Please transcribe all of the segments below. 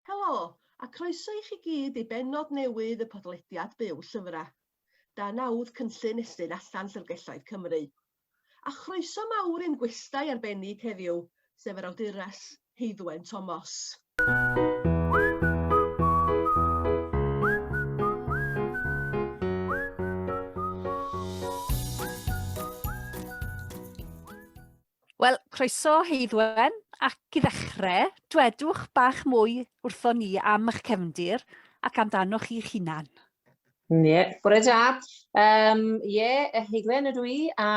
Helo, a croeso i chi gyd i bennod newydd y podlediad Byw Llyfrau. Da nawdd cynllun Estyn Allan Llyfrgelloedd Cymru. A chroeso mawr i'n gwestai arbennig heddiw, sef yr awdures Heiddwen Tomos. Wel, croeso Heidwen, ac i ddechrau, dwedwch bach mwy wrthon ni am eich cefndir ac amdanoch chi'ch hunan. Ie, bore da. Um, ie, Heidwen ydw i, a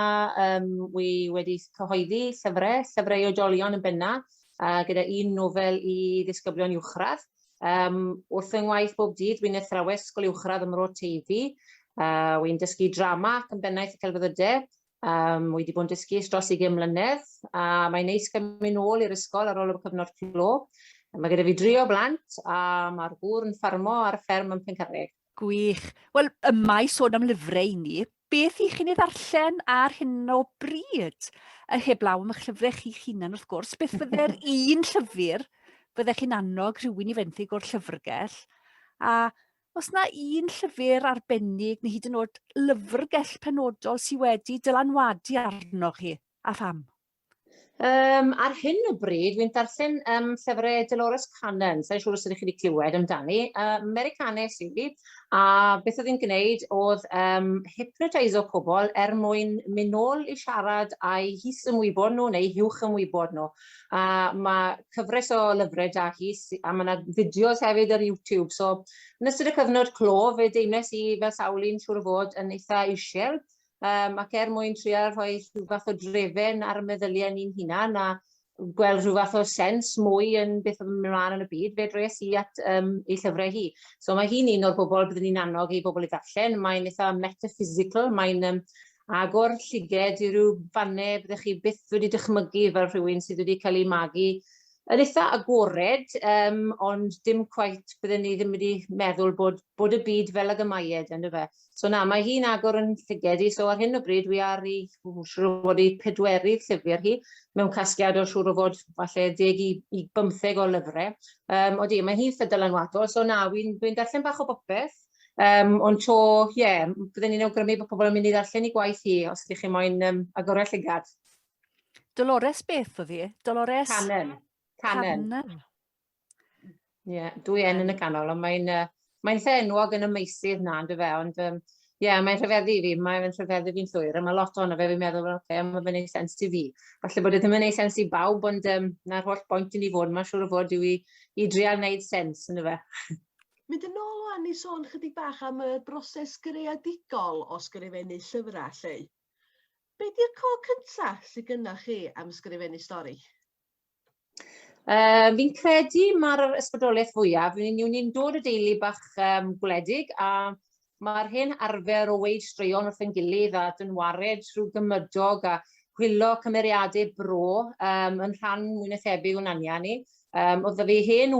um, wi wedi cyhoeddi llyfrau, llyfrau i oedolion yn benna, a gyda un nofel i ddisgyblion uwchradd. Um, wrth yng ngwaith bob dydd, wy'n athrawes sgol uwchradd ym Mro Teifi, a wy'n dysgu drama ac yn bennaeth y celfyddydau, Um, wy wedi bod yn dysgu dros 20 mlynedd a mae'n neis gymryd yn ôl i'r ysgol ar ôl y cyfnod clo. Mae gyda fi dri o blant a mae'r gŵr yn ffarmo ar y fferm yn Pencarreg. Gwych. Wel, y mae sôn am lyfrau i ni. Beth i chi'n ei ddarllen ar hyn o bryd? A heblaw am eich llyfrau chi'ch hunan wrth gwrs, beth fydde'r un llyfr fyddech chi'n annog rhywun i fenthyg o'r llyfrgell? A Oes 'na un llyfr arbennig neu hyd yn o'd lyfrgell penodol sy wedi dylanwadu arnoch chi, a pham? Um, ar hyn o bryd, wy'n darllen um, llyfrau Dolores Cannon, sa'n siŵr os ydych chi wedi clywed amdani, uh, Americanes i fi, a beth oedd hi'n gwneud oedd um, hypnotiso pobl er mwyn mynd nôl i siarad â'i his ymwybod nhw neu hiwch ymwybod nhw. a mae cyfres o lyfrau da hi, a mae yna fideos hefyd ar YouTube. So, yn ystod y cyfnod clo, fe deimles i fel sawl un siŵr o fod yn eitha eisiau, um, ac er mwyn trial rhoi rhyw fath o drefen ar y meddyliau ni'n hunan, a gweld rhyw fath o sens mwy yn beth oedd yn mynd ymlaen yn y byd, fe dres i at um, ei llyfrau hi. So mae hi'n un o'r bobl byddwn ni'n annog i bobl i ddarllen. Mae'n eitha metaphysical, mae'n um, agor lliged i ryw fannau byddech chi byth wedi dychmygu fel rhywun sydd wedi cael ei magu yn eitha agored, um, ond dim cweit bydden ni ddim wedi meddwl bod, bod y byd fel ag y mae e, dyna fe. So na, mae hi'n agor yn llyged i, so ar hyn o bryd wi ar ei, siwr o fod ei pedwerydd llyfr hi, mewn casgliad o siwr o fod falle deg i, i bymtheg o lyfrau. Um, o di, mae hi'n ffydol anwadol, so na, wi'n dwi darllen bach o bopeth, Um, ond to, ie, yeah, byddwn ni'n awgrymu bod pobl yn mynd i ddarllen i gwaith hi, os ydych chi'n moyn um, agorau llygad. Dolores beth oedd hi? Dolores? Cannon. Cannon. Cannon. Ie, yeah, dwy en yn y canol, ond mae'n uh, mae lle enwog yn y meisydd na, ynddo fe, ond um, Ie, yeah, mae'n rhyfeddu fi, mae'n rhyfeddu fi'n llwyr, a mae lot o'n fe fi'n meddwl, oce, okay, mae fe'n ei sens ti fi. Falle bod e ddim yn ei sens i bawb, ond um, na'r holl bwynt i ni fod, mae'n siŵr o fod yw i, i drial wneud sens yn y fe. Mynd yn ôl ŵan i sôn chydig bach am y broses greadigol o sgrifennu llyfrau, Lleu. Be di'r co cynta sydd gynnach chi am sgrifennu stori? Uh, fi'n credu mae'r ysbrydoliaeth fwyaf, ni'n ni'n dod o deulu bach um, gwledig a Mae'r hen arfer o weud straeon wrth ein gilydd a dynwared trwy gymydog a chwilo cymeriadau bro um, yn rhan mwy na thebyg o'n anian ni. Um, oedd fi hen,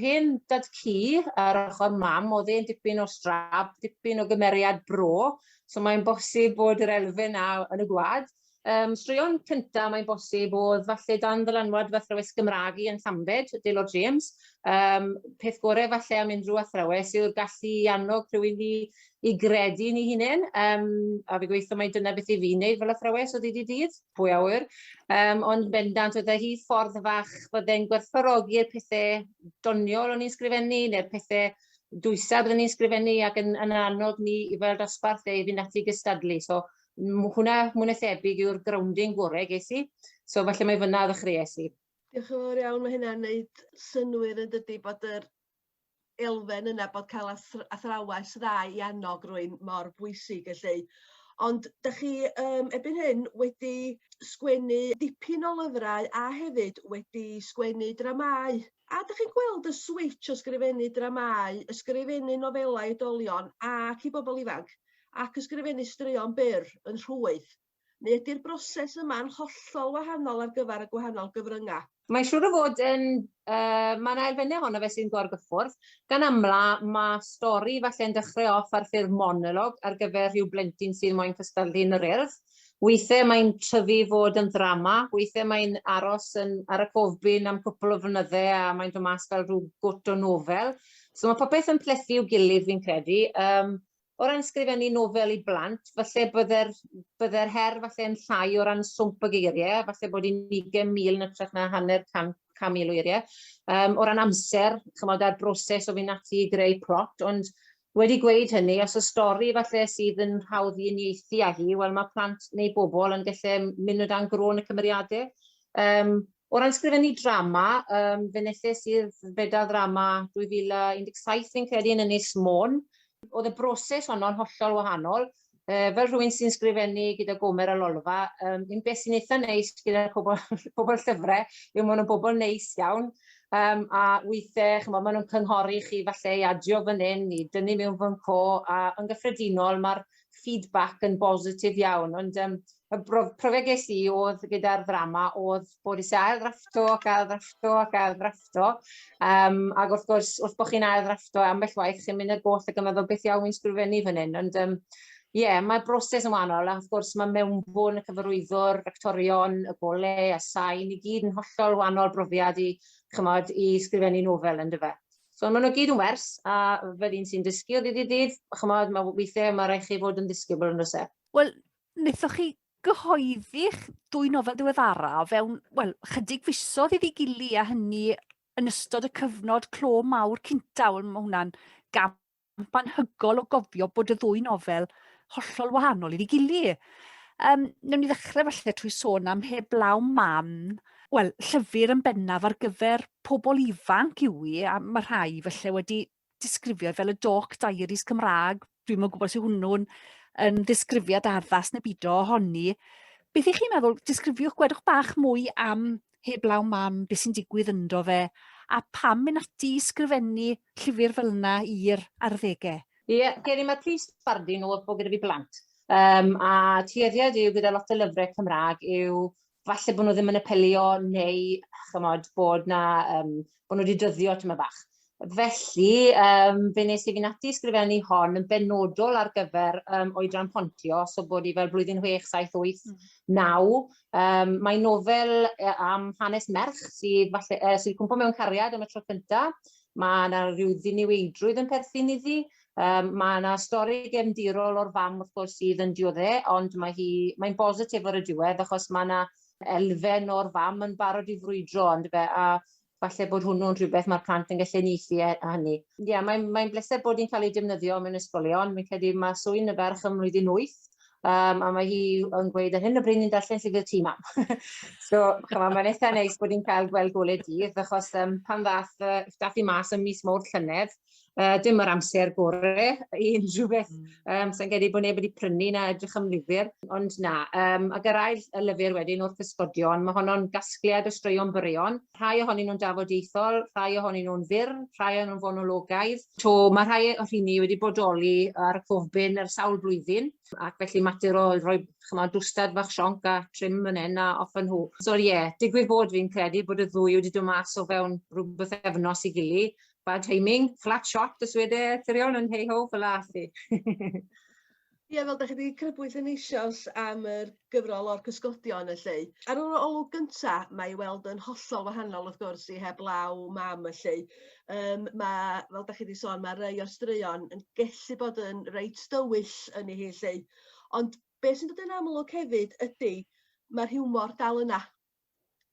hen dad cu ar ochr mam, oedd e'n dipyn o strab, dipyn o gymeriad bro, so mae'n bosib bod yr elfen na yn y gwad. Yym, straeon cynta, mae'n bosib, oedd falle dan ddylanwad fy athrawes Gymraeg i yn Llambed, Dale o James. Um, peth gorau falle am unrhyw athrawes yw'r gallu i annog rhywun i, i gredu ni hunain. Um, a fi gweithio mai dyna beth i fi wneud fel athrawes o ddydd i dydd, pwy awyr. Um, ond bendant, oedd e hi ffordd fach fydde'n gwerthfawrogi'r pethau doniol o'n i'n sgrifennu, neu'r pethau dwysau byddwn ni'n sgrifennu ac yn, yn annog ni i fel dosbarth ei fynd ati gystadlu. So, hwnna, mwy na thebyg, yw'r grounding gorau ges i. So falle mae fyna ddechreuais i. Diolch yn fawr iawn, mae hynna'n neud synwyr yn dydy bod yr elfen yna bod cael athrawes dda i annog rwy'n mor bwysig felly. Ond da chi um, ebyn hyn wedi sgwennu dipyn o lyfrau a hefyd wedi sgwennu dramau. A da chi'n gweld y switch o sgrifennu dramau, ysgrifennu nofelau oedolion ac i bobl ifanc? ac ysgrifennu straeon byr yn rhwydd, neu ydy'r broses yma'n hollol wahanol ar gyfer y gwahanol gyfryngau? Mae'n siŵr o fod yn, yy, mae 'na elfennau ohono fe sy'n gorgyffwrdd. Gan amla, mae stori falle'n dechrau off ar ffurf monolog ar gyfer rhyw blentyn sy'n moyn cystadlu yn yr Urdd. Weithiau mae'n tyfu i fod yn ddrama, weithiau mae'n aros yn, ar y cofbyn am cwpl o flynyddau a mae'n dod mas fel rhyw gwt o nofel. So mae popeth yn plethu i'w gilydd fi'n credu. Yym, o ran sgrifennu nofel i blant, falle bydde'r, bydde'r her falle yn llai o ran swmp y geiriau, falle bod i'n ugen mil yn ytrach na hanner can, can mil o eiriau. Um, o ran amser, chymod, a'r broses o fynd ati i greu plot, ond wedi gweud hynny, os y stori falle sydd yn hawdd i unieithu â hi, wel mae plant neu bobl yn gallu mynd o dan grôn y cymeriadau. Um, O ran sgrifennu drama, um, fe wnaethus i'r Feda Ddrama 2017 fi'n credu yn Ynys Môn. Oedd y broses honno'n hollol wahanol. Uh, fel rhywun sy'n sgrifennu gyda Gomer a Lolfa, um, un beth sy'n eitha neis gyda pobl, pobl llyfrau yw maen nhw'n bobl neis iawn. Um, a weithiau, chymod, maen nhw'n cynghori chi falle i adio fan hyn, i dynnu mewn fan co, a yn gyffredinol mae'r feedback yn bositif iawn, ond um, y profiad ges i oedd gyda'r ddrama oedd bod i ail ddrafto ac ail ddrafto ac ail ddrafto. Um, ac wrth gwrs, wrth bod chi'n ail ddrafto ambell waith, chi'n mynd y goll ac yn meddwl beth iawn i'n sgrifennu fan hyn. Ond um, Ie, yeah, mae'r broses yn wahanol, a wrth gwrs mae mewnbwn y cyfarwyddwr, actorion, y gole a sain i gyd yn hollol wahanol brofiad i, chymod, i sgrifennu nofel yn dyfa. So maen nhw gyd yn wers, a fel un sy'n dysgu o ddydd i ddydd, chymod, mae weithiau mae rhaid chi fod yn ddisgybl yn rhywbeth. Wel, wnaethoch chi gyhoeddi'ch dwy nofel diweddara o fewn, wel, chydig fisodd iddi gili a hynny yn ystod y cyfnod clo mawr cynta, wel, mae hwnna'n gam camp anhygoel o gofio bod y ddwy nofel hollol wahanol iddi gilydd. Um, newn ni ddechrau falle trwy sôn am heblaw mam, wel, llyfr yn bennaf ar gyfer pobl ifanc yw i, a mae rhai felly wedi disgrifio fel y Doc Diaries Cymraeg, dwi'n mwyn gwybod sy'n hwnnw'n yn ddisgrifiad addas neu byd o honni. Beth ych chi'n meddwl, disgrifiwch, gwedwch bach mwy am heblaw mam beth sy'n digwydd ynddo fe, a pam mynd ati i sgrifennu llyfr fel yna i'r arddegau? Ie, yeah, gen i mae'r prif sbardun oedd bod gyda fi blant. Um, a tueddiad yw gyda lot o lyfrau Cymraeg yw falle bod nhw ddim yn apelio neu chymod, bod na um, bod nhw wedi dyddio tyma bach. Felly, um, fe nes i fynd ati sgrifennu hon yn benodol ar gyfer um, oedran pontio, so bod i fel blwyddyn 6, 7, 8, 9. Um, mae nofel e, am hanes merch sydd, falle, uh, sydd cwmpo mewn cariad am y tro cyntaf. Mae yna rhyw ddiniweidrwydd yn perthyn iddi. Um, mae yna stori gefndirol o'r fam wrth gwrs sydd yn diodde, ond mae hi, mae'n bositif ar y diwedd achos mae yna elfen o'r fam yn barod i frwydro yndyfe a falle bod hwnnw'n rhywbeth mae'r plant yn gallu uniaethu e- â hynny. Ie, mae'n mae bleser bod hi'n cael ei defnyddio mewn ysgolion. Fi'n credu mae swyn y ferch ym mlwyddyn wyth um, a mae hi yn gweud ar hyn o bryd ni'n darllen llyfr tu mam. so, chymod, mae'n eitha neis bod hi'n cael gweld gole dydd, achos um, pan ddath uh, dath i mas ym mis mawrth llynedd, Uh, dim yr amser gore i unrhyw beth. Um, Sa'n gedi bod neb wedi prynu na edrych am lyfr. Ond na, um, a gyrraedd y lyfr wedyn wrth ysgodion, mae honno'n gasgliad o straeon byrion. Rhai ohonyn nhw'n dafodieithol, rhai ohonyn nhw'n fyr, rhai ohonyn nhw'n fonologaidd. To, mae rhai o rhini wedi bodoli ar y cofbyn ar sawl blwyddyn, ac felly mater o roi chymod, dwstad fach sionc a trim yn hyn a off yn hw. So ie, yeah, digwydd bod fi'n credu bod y ddwy wedi dod mas o fewn rhywbeth efnos i gili, Bad timing, flat shot y swede etherion yn hei ho, fel la chi. Ie, fel da chi wedi crybwyll yn eisioes am yr gyfrol o'r cysgodion y lleu. Ar yr olwg gynta, mae i weld yn hollol wahanol wrth gwrs i heb law mam y lleu. Um, mae, fel da chi wedi sôn, mae rei o'r straeon yn gellu bod yn reit dywyll yn ei hi lleu. Ond beth sy'n dod yn amlwg hefyd ydy, mae'r hiwmor dal yna.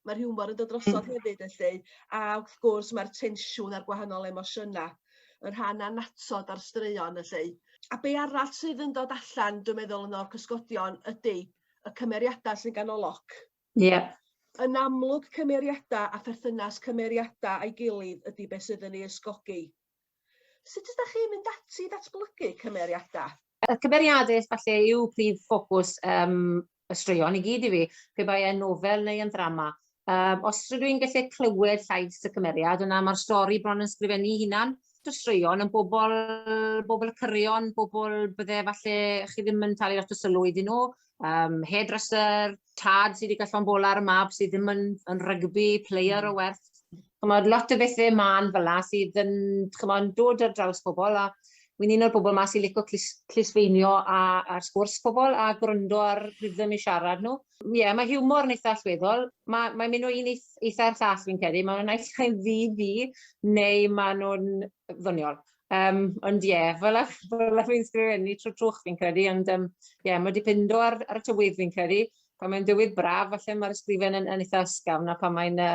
Mae'r hiwmor yn dod drosodd mm. hefyd felly, a wrth gwrs mae'r tensiwn a'r gwahanol emosiynau, y rhan annatod a'r straeon felly. A be arall sydd yn dod allan, dwi'n meddwl, yn o'r cysgodion ydy y cymeriadau sy'n ganolog. Ie. Yeah. Yn amlwg cymeriadau a pherthynas cymeriadau a'i gilydd ydy beth sydd yn ei ysgogi. Sut ydych chi'n mynd ati i ddatblygu cymeriadau? Y cymeriadau falle yw prif ffocws um, y straeon i gyd i fi, pe bai e'n nofel neu yn ddrama. Um, os rydw i'n gallu clywed llais y cymeriad, yna mae'r stori bron yn sgrifennu hunan. Mae'r straeon yn bobl, bobl y cyrion, bobl bydde falle chi ddim yn talu lot o sylw iddyn nhw, um, hairdresser, tad sydd wedi gallon bola ar y mab sydd ddim yn, yn rygbi, player mm. o werth. Chymod, lot o bethau man fel la sydd yn chymod, dod ar draws pobl a wy'n un o'r bobl yma sy'n licio clis, clisfeinio a, a sgwrs pobl a gwrando ar rhythm i siarad nhw. Ie, yeah, mae hiwmor yn eitha allweddol. Mae'n mae mynd o un eitha i'r llall fi'n credu. Mae'n naill ai'n ddi fi neu maen nhw'n ddoniol. Um, ond ie, yeah, fel ach, fel ach fi'n sgrifennu trwy trwch fi'n credu, ond ie, um, yeah, mae wedi pindo ar, ar y tywydd fi'n credu. Pan mae'n dywydd braf, falle mae'r ysgrifen yn, yn eitha ysgafn, a pan mae'n uh,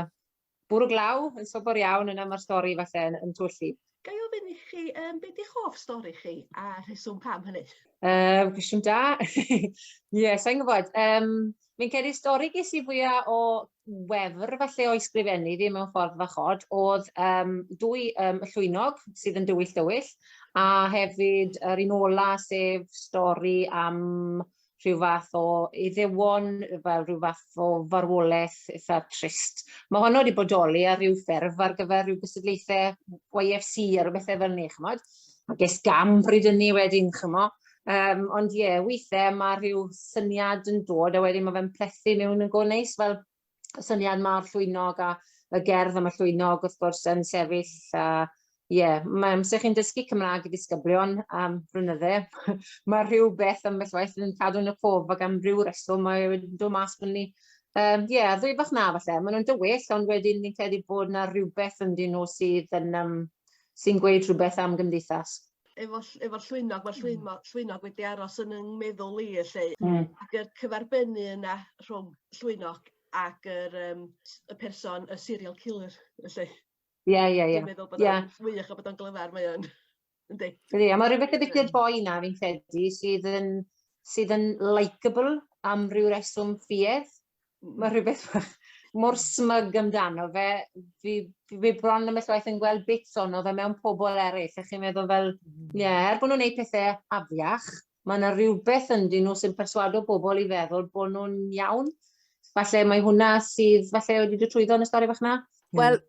bwrw glaw, yn sobor iawn, yna mae'r stori falle yn, yn twyllu. Gai ofyn i chi, um, beth yw'ch hoff stori chi a rheswm pam hynny? Um, cwestiwn da. Ie, yeah, sa'n gwybod. Um, Fi'n credu stori ges i fwya o wefr falle o'i sgrifennu fi mewn ffordd fach od o'dd yym dwy yym y llwynog sydd yn dywyll dywyll a hefyd yr un ola sef stori am rhyw fath o iddewon fel rhyw fath o farwolaeth eitha trist. Mae honno wedi bodoli ar ryw ffurf ar gyfer rhyw gystadlaethau YFC a rhyw bethau fel 'ny ch'mod. A ges gam bryd ynny wedyn ch'mo'. Yym ond ie withe ma' rhyw syniad yn dod a wedyn ma' fe'n plethu mewn yn go neis fel y syniad 'ma o'r llwynog a y gerdd am y llwynog wrth gwrs yn sefyll a ie ma' amser chi'n dysgu Cymra'g i ddisgyblion am flynydde ma' rhywbeth ambell waith yn cadw yn y cof ac am ryw reswm mae e wedi dod mas bo' ni yym ie a ddwy fach 'na falle ma' nhw'n dywyll ond wedyn fi'n credu bod 'na rywbeth ynddyn nhw sydd yn yym sy'n gweud rhywbeth am gymdeithas. efo ll- efo'r llwynog ma'r llwymo- llwynog wedi aros yn 'yn meddwl i felly... Hmm. ...ac y cyferbynnu yna rhwng llwynog ac yr yym s- y person y serial killer felly. Ie ie ie. Dwi'n meddwl bod o'n... Ie. ...wych a bod o'n glyfar mae o'n yndi? Ydi a ma' rywbeth y wicked boy 'na fi'n credu sydd yn sydd yn likeable am ryw reswm ffiedd. ma' rhywbeth bach mor smug amdano fe, fi fi bron ambell waith yn gweld bits ono fe mewn pobl eraill, a chi'n meddwl fel, hmm. ie, er bod nhw'n gwneud pethau afiach, mae yna rhywbeth ynddyn nhw sy'n perswado bobl i feddwl bod nhw'n iawn. Falle mae hwnna sydd, falle wedi dod trwyddo yn y stori fach na. Wel,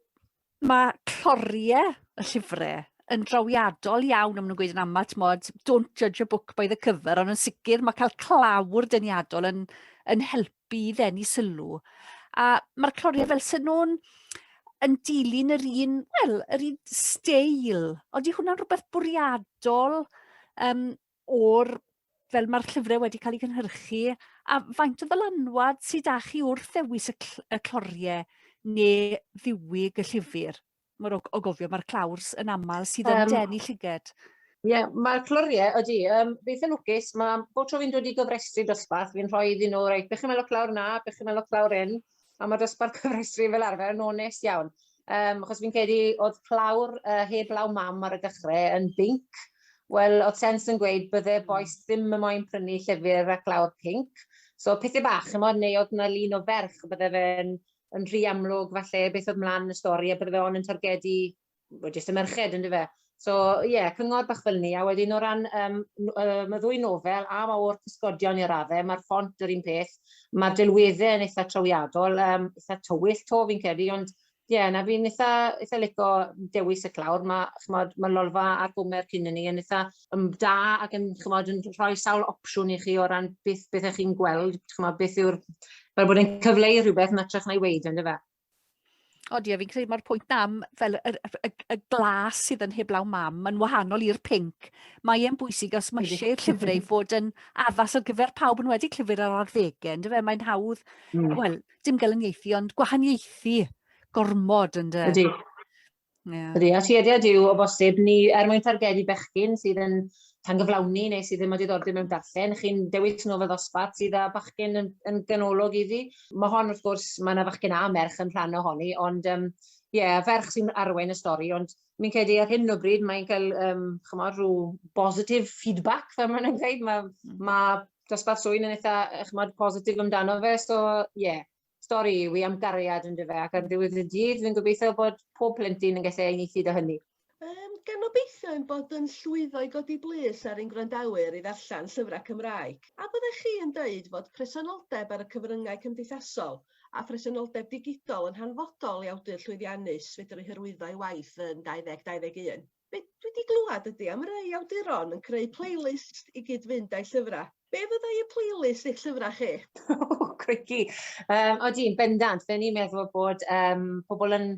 Mae cloriau y llyfrau yn drawiadol iawn, am nhw'n gweud yn aml, tmod, don't judge a book by the cover, ond yn sicr mae cael clawr dyniadol yn, yn helpu i ddenu sylw. A mae'r cloriau fel sy'n nhw'n yn dilyn yr un, wel, yr un steil, ond i hwnna'n rhywbeth bwriadol um, o'r fel mae'r llyfrau wedi cael eu cynhyrchu, a faint o ddylanwad sydd â chi wrth ddewis y, cl y cloriau neu ddiwyg y llyfr? Mae'r o, o gofio, mae'r clawrs yn aml sydd yn um, denu llyged. Ie, yeah, mae'r cloriau, ydy, um, beth yn lwcus, mae bob tro fi'n dod i gyfrestru dosbarth, fi'n rhoi iddyn nhw, reit, bych chi'n meddwl clawr na, bych chi'n meddwl clawr un, A mae dosbarth cyfrestru fel arfer yn onest iawn. Um, achos fi'n credu oedd plawr uh, heb law mam ar y dechrau yn binc. Wel, oedd sens yn gweud bydde hmm. boes ddim yn moyn prynu llyfr ac lawr pinc. So, pethau bach, chymod, neu oedd yna lun o ferch, bydde fe'n yn rhy amlwg falle beth oedd mlaen y stori a bydde fe on yn targedu wel jyst y merched yn dyfe? So ie, yeah, cyngor bach fel ni, a wedyn o ran um, um, y ddwy nofel, a mae o'r cysgodion i'r raddau, mae'r ffont yr un peth, mae'r delweddau yn eitha trawiadol, um, eitha tywyll to fi'n credu, ond ie, yeah, na fi'n eitha, eitha lico dewis y clawr, mae chmod, ma Lolfa a'r Gomer cyn ni yn eitha um, da ac yn, chmod, yn rhoi sawl opsiwn i chi o ran beth, beth ych chi'n gweld, chmod, beth yw'r, fel bod yn cyfleu rhywbeth yn atrach na'i weid, ynddo fe? Ond ie, fi'n credu mae'r pwynt am fel y, y, y glas sydd yn heblaw mam, mae'n wahanol i'r pink. Mae e'n bwysig os mae eisiau llyfrau fod yn addas ar gyfer pawb yn wedi llyfr ar arddegau, ynddo fe? Mae'n hawdd, mm. wel, dim gael yn ieithi, ond gwahaniaethu gormod, ynddo? Ydy. Yeah. Ydy, a tueddiad yw o bosib ni er mwyn targedu bechgyn sydd yn tangyflawni neu sydd ddim o diddordeb mewn darllen, chi'n dewis nofel ddosbarth sydd â bachgen yn, yn ganolog iddi. Mae hon wrth gwrs, mae yna fachgen a merch yn rhan ohoni, ond um, ie, yeah, ferch sy'n arwain y stori, ond mi'n credu ar hyn o bryd mae'n cael um, chymod, rhyw positive feedback, fel maen nhw'n dweud, mae, mm. mae dosbarth swyn yn eitha chymod, positif amdano fe, so ie, yeah, stori yw i am gariad yn dyfe ac ar ddiwedd y dydd fi'n gobeithio bod pob plentyn yn gallu uniaethu â hynny. Um, gan obeithio ein bod yn llwyddo i godi blys ar ein gwrandawyr i ddarllen llyfrau Cymraeg. A byddech chi yn dweud fod presenoldeb ar y cyfryngau cymdeithasol a phresenoldeb digidol yn hanfodol i awdur llwyddiannus fedru hyrwyddo ei waith yn 2021? Be dwi 'di glwad ydi am rei awduron yn creu playlist i gyd-fynd â'i llyfra'. Be fyddai y playlist eich llyfra' chi? O crikey! Yym odi yn bendant, fe o'n i'n meddwl bod yym pobol yn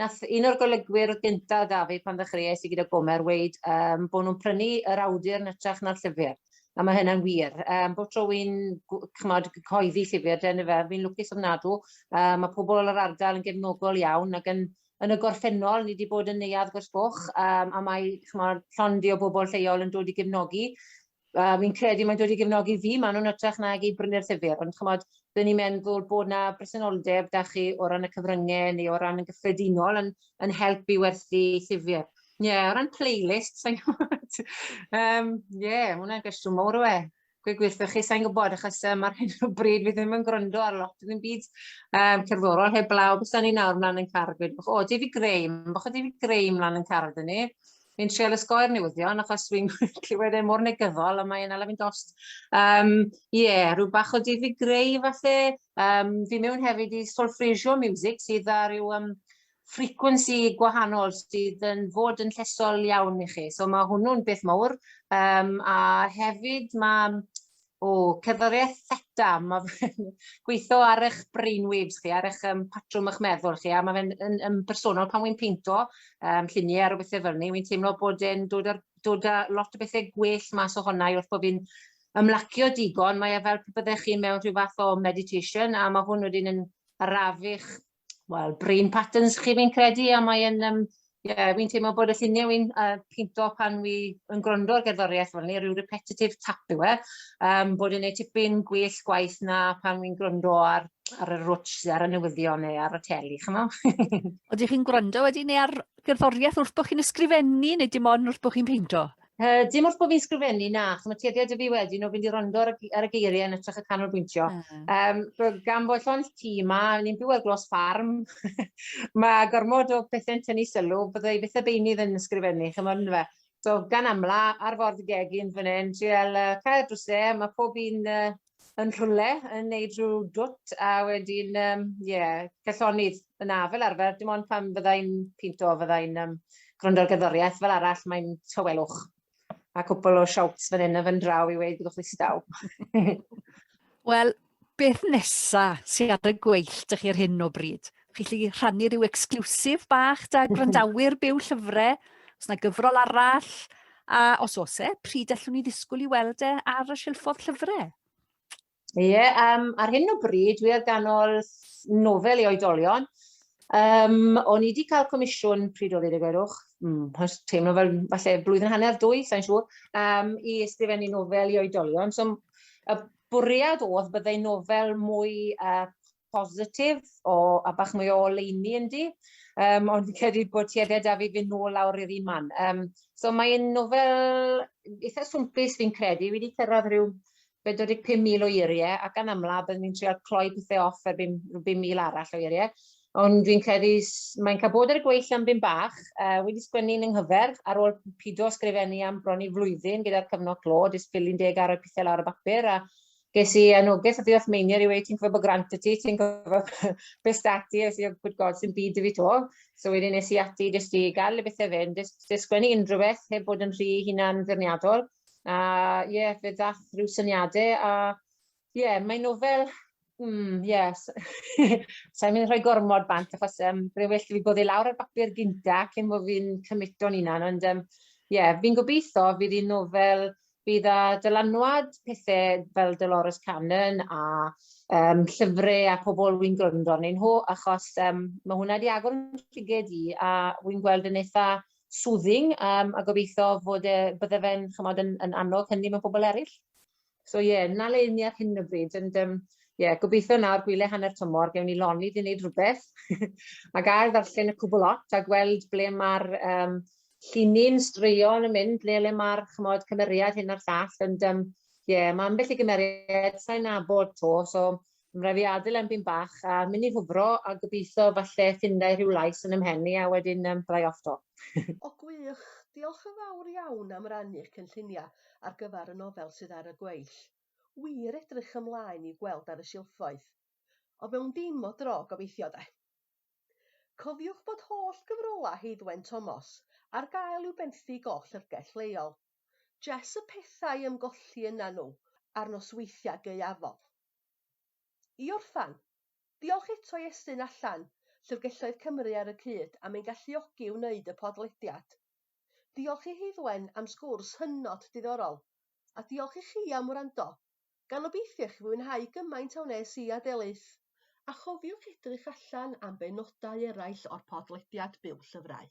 nath un o'r golygwyr o'dd gynta' 'da fi pan ddechreuais i gyda Gomer weud yym bo' nw'n prynu yr awdur yn ytrach na'r llyfyr, a ma' hynna'n wir. Yym bob tro wi'n gw- ch'mod cyhoeddi llyfyr de yndyfe fi'n lwcus ofnadw, yy ma' pobol o'r ardal yn gefnogol iawn ag yn yn y gorffennol, ni 'di bod yn Neuadd Gorsgoch, um, a mae chymod, llondi o bobl lleol yn dod i gefnogi. Uh, fi'n credu mae'n dod i gefnogi fi, maen nhw'n ytrach nag i brynu'r llyfr, ond chymod, dyn ni'n meddwl bod yna bresenoldeb da chi o ran y cyfryngau neu o ran y gyffredinol yn, yn helpu werthu llyfr. Ie, yeah, o ran playlist, sa'n gwybod. um, yeah, mae hwnna'n gwestiwn mawr o e. gweud gwirthoch chi, sa'n gwybod, achos um, ar hyn o bryd fi ddim yn gwrando ar lot yn byd um, cerddorol heb blaw, bys ni nawr mlaen yn car, gweud, o, David Graham, bach o David Graham mlaen yn car ydyn ni, fi'n treol ysgoi'r newyddion, achos fi'n clywed e mor negyddol, a mae'n ala fi'n dost. Um, yeah, rhyw bach o David Gray, falle, um, fi mewn hefyd i Solfreisio Music, sydd â rhyw um, frequency gwahanol sydd yn fod yn llesol iawn i chi. So mae hwnnw'n beth mawr. Um, a hefyd mae o, cerddoriaeth theta, mae gweithio ar eich brainwaves chi, ar eich um, patrwm eich meddwl chi, a mae fe'n yn, yn bersonol pan wy'n peinto um, lluniau ar o bethau fel ni, wy'n teimlo bod e'n dod, ar, dod â lot o bethau gwell mas o honna i wrth bod fi'n ymlacio digon, mae e fel pe byddech chi mewn rhyw fath o meditation, a mae hwn wedyn yn arafych wel, brain patterns chi fi'n credu, a mae'n, um, yeah, fi'n teimlo bod y lluniau fi'n uh, pinto pan fi yn gwrando ar gerddoriaeth fel ni, rhyw repetitive tap yw e, um, bod yn ei tipyn gwell gwaith na pan fi'n gwrando ar, ar y rwtch, ar y newyddion neu ar y teli, chymo? Oedych chi'n gwrando wedi neu ar gerddoriaeth wrth bod chi'n ysgrifennu neu dim ond wrth bod chi'n peinto? Uh, dim wrth bod fi'n sgrifennu, na, chos mae tueddiad y fi wedyn o fynd i rondo ar, ar y geiriau yn ytrach y canolbwyntio. Mm. Um, gan fod llond ti yma, ni'n byw ar glos ffarm, mae gormod o bethau'n tynnu sylw, byddai beth y beinydd yn ysgrifennu, chymod yn fe. So, gan amla, ar ford y gegin fan hyn, trial uh, cael drwsau, mae pob un uh, yn rhywle yn neud rhyw dwt a wedyn yym ie cellonydd yna fel arfer dim ond pan fydda i'n pinto fydda i'n yym gwrando ar gerddoriaeth fel arall mae'n tawelwch a cwpl o shouts fan hyn a fan draw i weud byddwch ddistaw. Wel, beth nesa sy ar y gweill dych chi ar hyn o bryd? chi'n lli rhannu rhyw exclusive bach da gwrandawyr byw llyfrau, os yna gyfrol arall, a os oes e, pryd allwn ni ddisgwyl i weld e ar y silffodd llyfrau? Ie, yeah, um, ar hyn o bryd, dwi ar ganol nofel i oedolion. Um, o'n i wedi cael comisiwn pryd oedd ei gwerwch, mm, teimlo fel falle blwyddyn hanner dwy, sa'n siŵr, um, i ysgrifennu nofel i oedolion. So, y bwriad oedd byddai nofel mwy uh, positif o, a bach mwy o oleuni yndi, um, ond fi'n credu bod tueddiad a fi fy nôl lawr i'r un man. Um, so mae'n nofel eitha swmpus fi'n credu, wedi cyrraedd rhyw 45,000 o eiriau ac yn amla byddwn ni'n treol cloi pethau off ar 5,000 arall o eiriau. Ond fi'n credu mae'n cael bod ar y gweill am bum bach, uh, wedi sgwennu yn ynghyfer ar ôl pido sgrifennu am bron i flwyddyn gyda'r cyfnod clo, jyst pilyn deg ar y pethau lawr y bapur a Ges i anogaeth o ddiolch meinier i wedi ti'n gwybod bod grant y ti, ti'n gwybod beth stati, es i o gwybod god sy'n byd i fi to. So wedyn nes i ati jyst i gael y bethau fynd, jyst sgwennu unrhyw beth heb bod yn rhy hunan ddyrniadol. A ie, yeah, fe ddath rhyw syniadau a ie, yeah, mae nofel Mm, yes. Sa'n mynd rhoi gormod bant, achos um, byddai'n well i fi bod ei lawr ar bapur gynta cyn bod fi'n cymito'n unan, ond um, yeah, fi'n gobeithio fydd hi'n nofel Bydd a dylanwad pethe fel Dolores Cannon a um, llyfre a pobl wy'n gwrando arnyn nhw, achos um, mae hwnna wedi agor yn rhyged i, a wy'n gweld yn eitha soothing, um, a gobeithio fod e, bydde fe'n chymod yn, yn annog hynny mewn pobl eraill. So ie, yeah, na le ni ar hyn o bryd, ond um, yeah, gobeithio nawr gwyle hanner tymor, gewn ni loni di wneud rhywbeth, ac ail ddarllen y cwbl lot a gweld ble mae'r um, Lle ni'n straeon yn mynd, le le ma'r ch'mod cymeriad hyn a'r llall ond yym ie ma' ambell i gymeriad sai'n nabod 'to so ma' rai' fi adel e am byn bach a myn' i hwfro a gobitho falle ffinda i rhyw lais yn 'y mhen i a wedyn yym byddai off 'to. O gwych! Diolch yn fawr iawn am rannu'ch cynllunia ar gyfar y nofel sydd ar y gweill. Wir edrych ymlaen i'w gweld ar y silffoedd. Ond mewn dim o dro gobeithio de. Cofiwch bod holl gyfrolau Heddwen Tomos ar gael i'w benthyg o'ch llyfrgell leol. Jes y pethau ym golli yna nhw ar nosweithiau gaeafol. I orffan, diolch eto i Estyn allan Llyfrgelloedd Cymru ar y cyd am ein galluogi i wneud y podlediad. Diolch i Heddwen am sgwrs hynod diddorol, a diolch i chi am wrando Gan obeithio i chi fwynhau gymaint a wnes i a Delyth! A chofiwch edrych allan am benodau eraill o'r podlediad Byw Llyfrau.